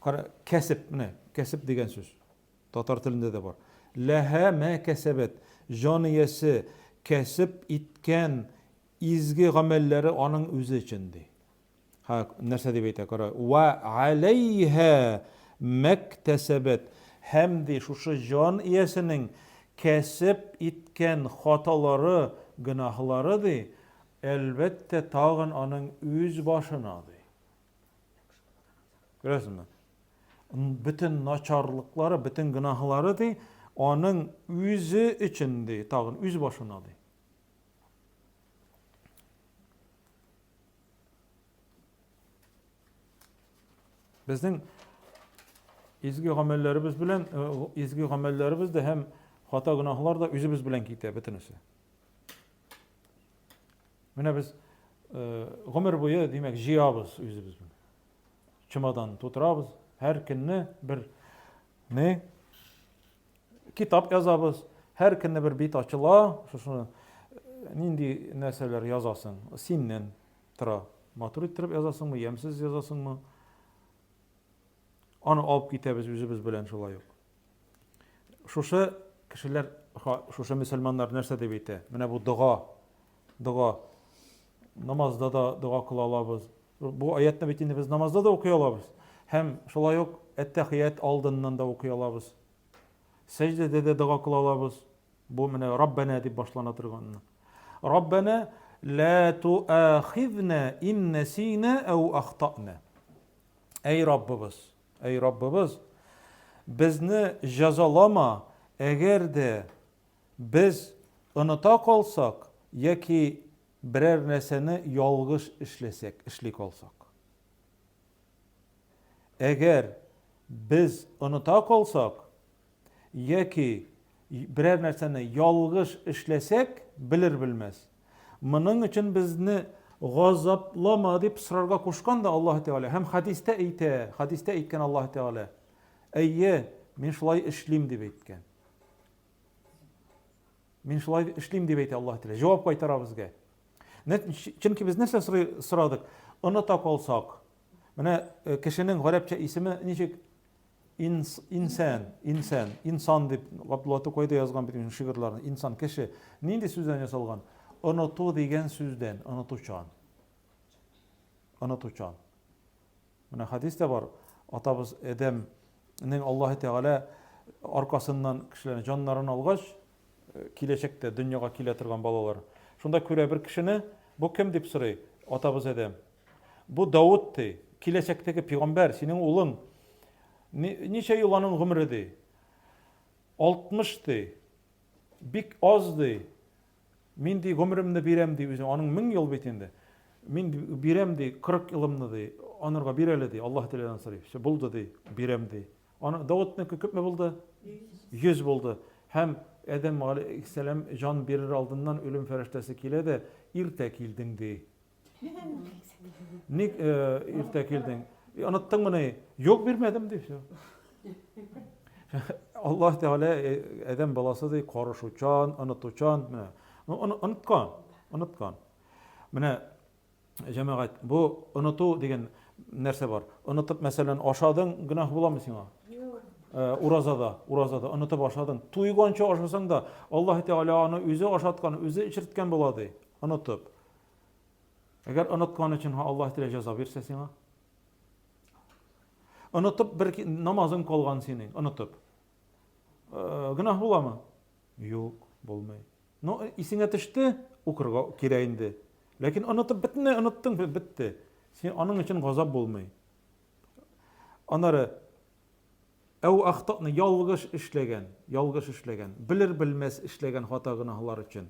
Кара, кәсеп, менә, кәсеп дигән сүз. Татар телендә дә бар. Ләһә мә кәсәбәт. Җан иясе кәсеп иткән изге гамәлләре аның үзе өчен ди. Һа, нәрсә дип әйтә, кара. Вә аләйһә мәктәсәбәт. Һәм ди шушы җан иясенең кәсеп иткән хаталары, гөнаһлары, ди, әлбәттә, тагын аның үз башына, ди. Күрәсезме? Бөтен начарлыклары, бөтен гөнаһлары, ди, аның үзе өчен, ди, тагын үз башына, ди. Безнең изге гамәлләребез белән э, изге гамәлләребез дә һәм хата гөнаһлар да үзебез белән китә бөтенесе. Менә без э, гомер буе, димәк, җыябыз үзебез белән. Чемодан тутырабыз, һәр көнне бер не Китап язабыз, һәр көнне бер бит ачыла, шушыны нинди нәрсәләр язасың? Синнән тора. Матур иттереп язасыңмы, ямьсез язасыңмы? Аны алып китәбез үзебез белән шулай ук. Шушы кешеләр, шушы мөселманнар нәрсә дип әйтә? Менә бу дога, дога. Намазда да дога кыла алабыз, Бу аятьне бит инде без намазда да укый алабыз. Һәм шулай ук әттәхият алдыннан да укый алабыз. Сәҗдәдә дә дога кыла алабыз. Бу менә Раббана дип башлана торган. Раббана ла туахизна ин насина ау ахтана. Әй Раббыбыз, әй Раббыбыз, безне җәзалама, әгәр дә без оныта калсак яки Берәр нәрсәне ялгыш эшләсәк, эшли калсак. Әгәр без оныта калсак яки берәр нәрсәне ялгыш эшләсәк, белер-белмәс, моның өчен безне газаплама дип сорарга кушкан да Аллаһ Тәгалә. Һәм хадистә әйтә, хадистә әйткән Аллаһ Тәгалә. Әйе, мин шулай эшлим дип әйткән. Мин шулай эшлим, дип әйтә Аллаһ Тәгалә. Җавап кайтара безгә. Чөнки без нәрсә сорадык? Оныта калсак, менә э, кешенең гарәпчә исеме ничек? Инс, инсән, инсән, инсан дип Габдулла Тукай да язган бит шигырьләрен. Инсан кеше нинди сүздән ясалган? Оныту дигән сүздән, онытучан. Онытучан. Менә хәдис тә бар. Атабыз Адәм нең Аллаһы Тәгалә аркасыннан кешеләрнең җаннарын алгач, э, киләчәктә дөньяга килә торган балалар. Шунда күрә бер кешене, бу кем дип сорый, атабыз Адәм. Бу Давыт ди, киләчәктәге пигамбәр, синең улың. Ничә ел аның гомере ди? 60 ди. Бик аз ди. Мин, ди, гомеремне бирәм, ди, үзең, аның мең ел бит инде. Мин бирәм, ди, кырык елымны, ди, анырга бир әле, ди, Аллаһ теләгән сорый. Все, булды, ди, бирәм, ди. Аны Давытныкы күпме булды? Йөз булды. Һәм Адәм галәйһиссәлам җан бирер алдыннан үлем фәрештәсе килә дә, иртә килдең, ди. Ник иртә килдең? Оныттыңмыни? Юк, бирмәдем ди все. Аллаһ Тәгалә адәм баласы ди, карышучан, онытучан, менә. Ну, оныткан, оныткан. Менә җәмәгать, бу оныту дигән нәрсә бар. Онытып, мәсәлән, ашадың, гөнаһ буламы сиңа? Э, уразада, уразада онытып ашадың. Туйганча ашасаң да, Аллаһ Тәгалә аны үзе ашаткан, үзе эчерткән була ди, онытып. Әгәр оныткан өчен ха Аллаһ телә җәза бирсә сиңа. Онытып бер намазың калган синең, онытып. Э, гөнаһ буламы? Юк, булмый. Но э, исеңә төште, укырга кирә инде. Ләкин онытып бетне, оныттың, бетте. Син аның өчен газап булмый. Анары әу ахтакны ялгыш эшләгән, ялгыш эшләгән, белер-белмәс эшләгән хата гөнаһлар өчен.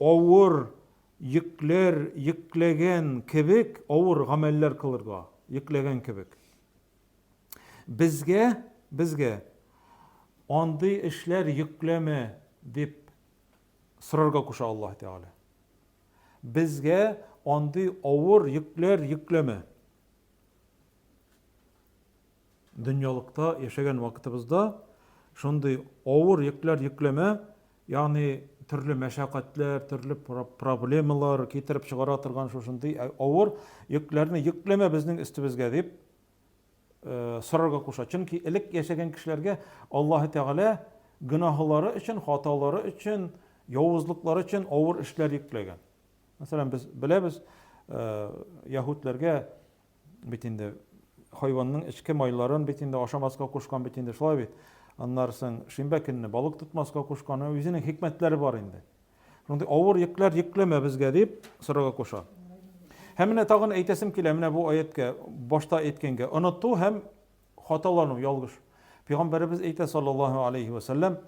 авыр йөкләр йөкләгән кебек авыр гамәлләр кылырга, йөкләгән кебек. Безгә, безгә андый эшләр йөкләмә дип сорарга куша Аллаһ Тәгалә. Безгә андый авыр йөкләр йөкләмә. Дөньялыкта яшәгән вакытыбызда шундый авыр йөкләр йөкләмә, ягъни төрле мәшәкатьләр, төрле проблемалар китереп чыгара торган шушындый ә, авыр йөкләрне йөкләмә безнең өстебезгә дип э, сорарга куша. Чөнки элек яшәгән кешеләргә Аллаһы Тәгалә гөнаһлары өчен, хаталары өчен, явызлыклары өчен авыр эшләр йөкләгән. Мәсәлән, без беләбез, э, яһүдләргә Бит инде хайванның эчке майларын бит инде ашамаска кушкан бит инде, шулай бит. Аннары соң шимбә көнне балык тотмаска кушкан, үзенең хикмәтләре бар инде. Шундый авыр йөкләр йөкләмә безгә дип сорарга куша. Һәм менә тагын әйтәсем килә, менә бу аяткә башта әйткәнгә, оныту һәм хаталану, ялгыш. Пәйгамбәребез әйтә саллаллаһу алейхи ва саллям,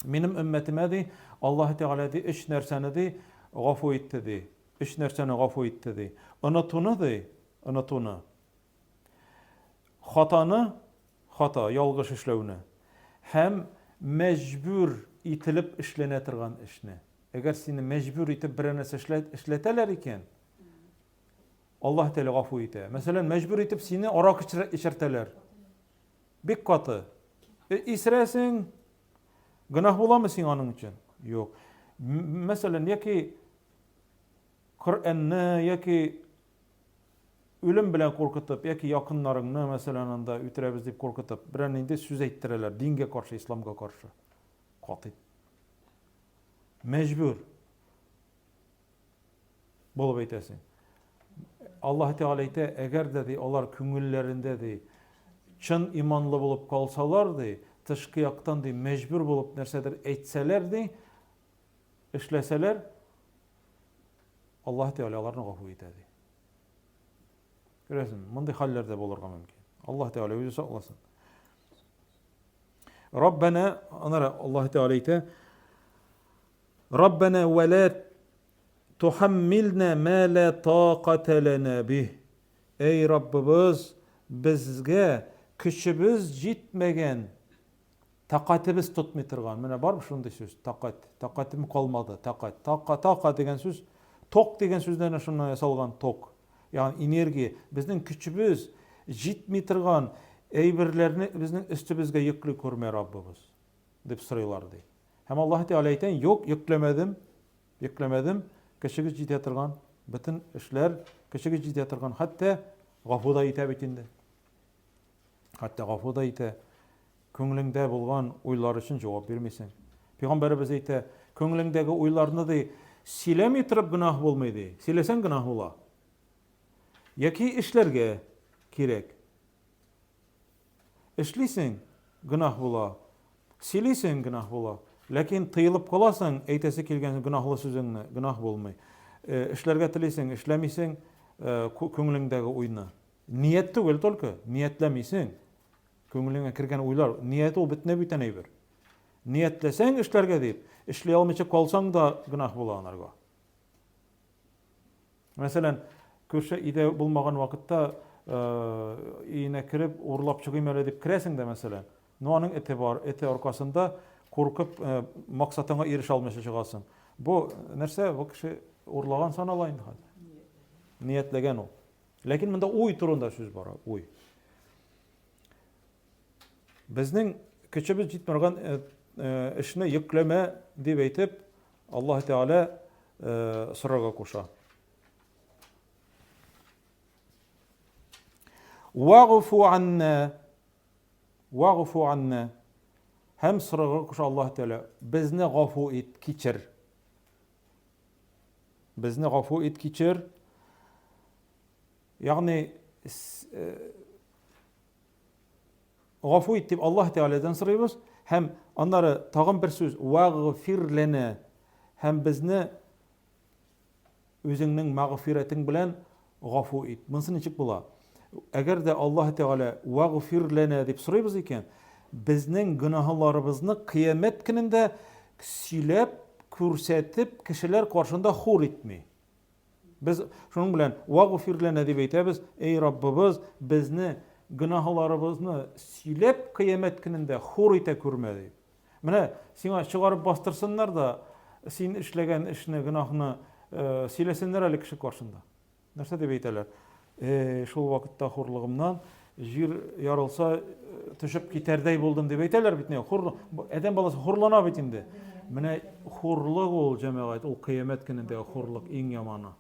Минем өммәтемә, ди, Аллаһы Тәгалә, ди, өч нәрсәне, ди, гафу итте, ди. Өч нәрсәне гафу итте, ди. Онытуны, ди, онытуны. Хатаны, хата, ялгыш эшләүне. Һәм мәҗбүр ителеп эшләнә торган эшне. Әгәр сине мәҗбүр итеп берәр нәрсә эшләтәләр икән, Аллаһ Тәгалә гафу итә. Мәсәлән, мәҗбүр итеп сине арак эчертәләр. Бик каты. Э, исерәсең. Гөнаһ буламы сиңа аның өчен? Юк. Мәсәлән, яки Коръәнне яки үлем белән куркытып, яки якыннарыңны, мәсәлән, анда үтерәбез дип куркытып, берәр нинди сүз әйттерәләр, дингә каршы, исламга каршы. Катый. Мәҗбүр. Булып әйтәсең. Аллаһ Тәгалә әйтә, әгәр дә ди алар күңелләрендә ди чын иманлы булып калсалар ди, тышкы яктан ди мәҗбүр булып нәрсәдер әйтсәләр ди, эшләсәләр, Аллаһ Тәгалә аларны гафу итә ди. Күрәсең, мондый хәлләр дә булырга мөмкин. Аллаһ Тәгалә үзе сакласын. Раббана, анара Аллаһ Тәгалә әйтә, Раббана вәлә Тохаммилнә мә лә такатә ләнә бих, Әй Раббыбыз, безгә көчебез җитмәгән, тәкатебез тотмый торган. Менә барбы шундый сүз, тәкать, тәкатем калмады, тәкать. Така, така дигән сүз, ток дигән сүздән әнә шуннан ясалган, ток. Ягъни энергия. Безнең көчебез җитми торган әйберләрне безнең өстебезгә йөкли күрмә, Раббыбыз, дип сорыйлар, ди. Һәм Аллаһы Тәгалә әйтә, Юк, йөкләмәдем, йөкләмәдем, көчегез җитә торган, бөтен эшләр көчегез җитә торган, хәтта гафу да итә бит инде. Хәтта гафу да итә. Күңелеңдә булган уйлар өчен җавап бирмисең. Пәйгамбәребез әйтә, күңелеңдәге уйларны ди, сөйләми торып гөнаһ булмый ди. Сөйләсәң гөнаһ була. Яки эшләргә кирәк. Эшлисең, гөнаһ була. Сөйлисең, гөнаһ була. Ләкин тыелып каласың, әйтәсе килгән гөнаһлы сүзеңне, гөнаһ булмый. Э, эшләргә телисең, эшләмисең, э, күңелеңдәге уйны. Ният түгел только, ниятләмисең. Күңелеңә кергән уйлар, ният ул бөтенләй бүтән әйбер. Ниятләсәң эшләргә дип, эшли алмыйча калсаң да гөнаһ була анарга. Мәсәлән, күрше өйдә булмаган вакытта өенә кереп, урлап чыгыйм әле дип керәсең дә, мәсәлән. Но аның эте бар, эте аркасында куркып максатыңа ирешә алмыйча чыгасың. Бу нәрсә? Бу кеше урлаган санала инде хәзер. Ниятләгән ул. Ләкин монда уй турында сүз бара, уй. Безнең көчебез җитмәгән эшне йөкләмә дип әйтеп, Аллаһ Тәгалә сорарга куша. Вагфу анна. Вагфу анна. Һәм сорарга куша Аллаһ Тәгалә, безне гафу ит, кичер. Безне гафу ит, кичер. Ягъни Гафу ит дип Аллаһ Тәгаләдән сорыйбыз һәм аннары тагын бер сүз вәгъфир ләнә һәм безне үзеңнең мәгъфирәтең белән гафу ит. Монысы ничек була? Әгәр дә Аллаһ Тәгалә вәгъфир ләнә дип сорыйбыз икән, безнең гөнаһларыбызны кыямәт көнендә сөйләп, күрсәтеп, кешеләр каршында хур итми. Без шуның белән вагфир лана дип әйтәбез, эй Раббыбыз, безне гөнаһларыбызны сөйләп кыямәт көнендә хур итә күрмә дип. Менә сиңа чыгарып бастырсыннар да, син эшләгән эшне, гөнаһны э, сөйләсеннәр әле кеше каршында. Нәрсә дип әйтәләр? Э-э, шул вакытта хурлыгымнан җир ярылса төшеп китәрдәй булдым дип әйтәләр бит инде. Хур адәм баласы хурлана бит инде. Менә хурлык ул җәмәгать, ул кыямәт көнендәге хурлык иң яманы.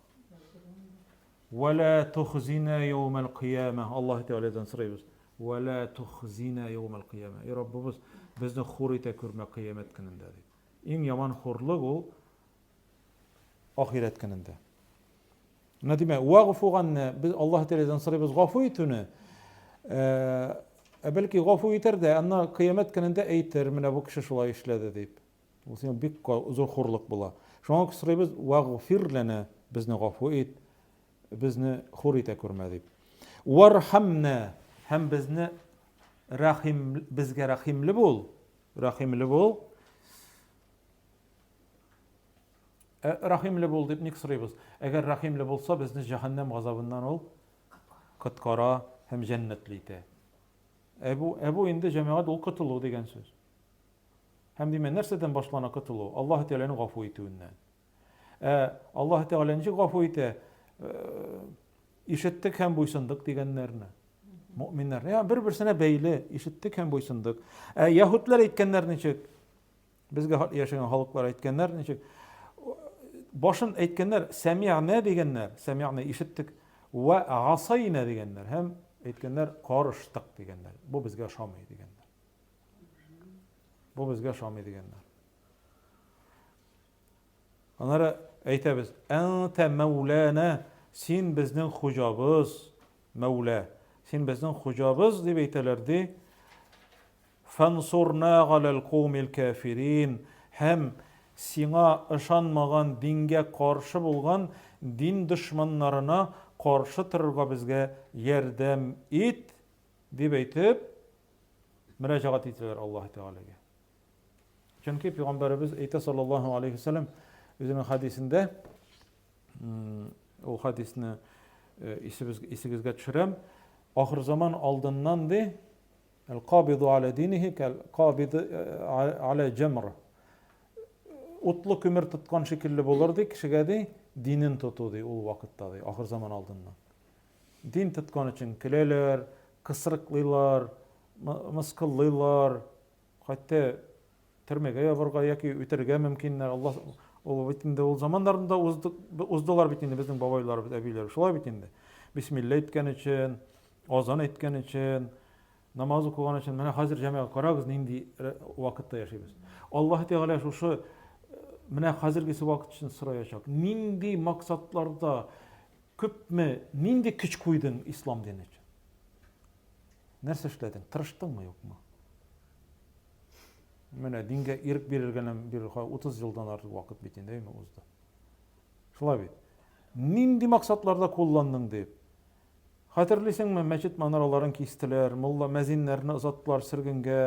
Вәлә тухзина яумал кыяма. Аллаһ Тәгаләдән сорыйбыз. Вәлә тухзина яумал кыяма. И Раббыбыз, безне хур итә күрмә кыямәт көнендә дип. Иң яман хурлык ул Ахирәт көнендә. Менә димәк, вагъфу ганне, без Аллаһ Тәгаләдән сорыйбыз гафу итүне. Ә э, бәлки гафу итәр дә, анна кыямәт көнендә әйтер, менә бу кеше шулай эшләде дип. Бу сиңа бик зур хурлык була. Шуңа сорыйбыз, вагъфир лана, безне гафу ит, безне хур итә күрмә дип. Вархамна, һәм безне рәхим, безгә рәхимле бул, рәхимле бул. Ә рәхимле бул дип ник сорыйбыз? Әгәр рәхимле булса, безне җәһәннәм газабыннан ул коткара һәм җәннәтле итә. Ә бу, ә бу инде җәмәгать ул котылу дигән сүз. Һәм димә, нәрсәдән башлана котылу? Аллаһ Тәгаләнең гафу итүеннән. Ә Аллаһ Тәгалә ничек гафу итә? Ишеттек һәм буйсындык дигәннәрне. Мөэминнәр. Бер-берсенә бәйле, ишеттек һәм буйсындык. Ә яһүдләр әйткәннәр ничек? Безгә яшәгән халыклар әйткәннәр, ничек башын әйткәннәр, сәмигънә дигәннәр, сәмигънә ишеттек, вә асайна дигәннәр һәм әйткәннәр, карыштык дигәннәр. Бу безгә ошамый дигәннәр. Бу безгә ошамый дигәннәр. Аннары әйтәбез, әнтә мәүләнә, син безнең хуҗабыз, мәүлә, син безнең хуҗабыз дип әйтәләр ди. Фансурнаа галәл каумил кәфирин, һәм Сиңа ышанмаган дингә каршы булган дин дошманнарына каршы торырга безгә ярдәм ит, дип әйтеп, мөрәҗәгать итәләр Аллаһы Тәгаләгә. Чөнки пигамбәребез әйтә саллаллаһу алейһи ва саллям үзенең хәдисендә, ул хәдисне исегезгә төшерәм, ахырзаман алдыннан ди, Әл-кабиду галә динихи кәл-кабиди галә җәмр. Утлы көмер тоткан шикелле булыр, ди, кешегә, ди, динен тоту, ди, ул вакытта, ди, ахыр заман алдыннан. Дин тоткан өчен көләләр, кысрыклыйлар, мыскыллыйлар, хәтта Төрмәгә ябарга яки үтерергә мөмкин. Алла ул бит инде ул заманнарында уздылар бит инде безнең бабайларыбыз, әбиләр. Шулай бит инде. Бисмилла әйткән өчен, азан әйткән өчен, намаз укыган өчен. Менә хәзер җәмәгать карагыз нинди вакытта яшибез. Аллаһ Тәгалә шушы менә хәзергесе вакыт өчен сораячак. Нинди максатларда күпме, нинди көч куйдың ислам дине өчен? Нәрсә эшләдең? Тырыштыңмы, юкмы? Менә дингә ирек бирелгәннән бирле 30 елдан артык вакыт бит инде әйме узды. Шулай бит. Нинди максатларда кулландың дип. Хәтерлисеңме, мәчет манараларын кистеләр, мулла мәзиннәрне озаттылар сөргенгә,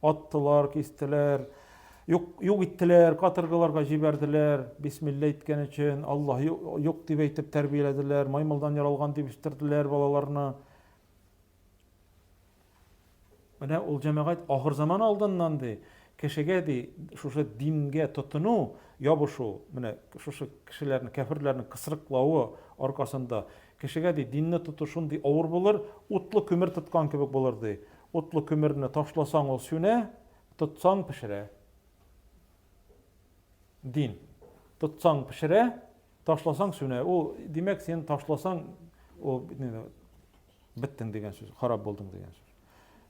аттылар, кистеләр, юк, юк иттеләр, каторгаларга җибәрделәр, бисмилла әйткән өчен, Аллаһ юк дип әйтеп тәрбияләделәр, маймылдан яралган дип үстерделәр балаларны. Менә ул җәмәгать ахыр заман алдыннан ди, кешегә ди, шушы дингә тотыну, ябышу, менә шушы кешеләрне, кәфирләрне кысрыклавы аркасында кешегә ди, динне тоту шундый авыр булыр, утлы көмер тоткан кебек булыр ди. Утлы көмерне ташласаң ул сүнә, тотсаң пешерә. Дин. Тотсаң пешерә, ташласаң сүнә. Ул, димәк, син ташласаң, ул Беттең дигән сүз, харап булдың дигән сүз.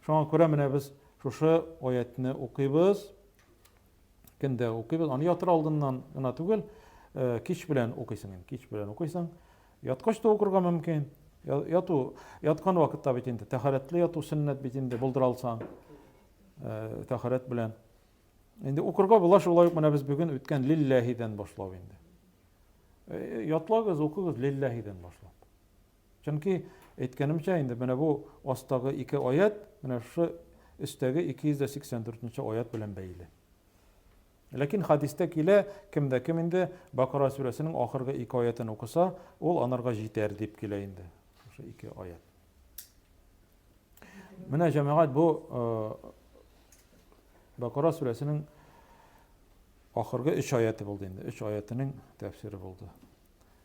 Шуңа күрә менә без шушы аятьне укыйбыз. Кендә укыйбыз. Аны ятыр алдыннан гына түгел, э, кич белән укыйсың, кич белән укыйсың. Яткач та укырга мөмкин. Яту, яткан вакытта бит инде тәһарәтле яту сөннәт бит инде булдыра алсаң, э, тәһарәт белән. Инде укырга була шулай ук менә без бүген үткән лилләһидән башлау инде. Э, ятлагыз, укыгыз лилләһидән башлап. Чөнки, әйткәнемчә, инде менә бу астагы ике аять менә шушы өстәге 284 нче аять белән бәйле. Ләкин хәдистә килә, кем дә кем инде Бакара сүрәсенең ахыргы ике аятен укыса, ул анарга җитәр дип килә инде. Шушы ике аят. Менә җәмәгать бу Бакара сүрәсенең ахыргы 3 аяты булды инде. 3 аятының тәфсире булды.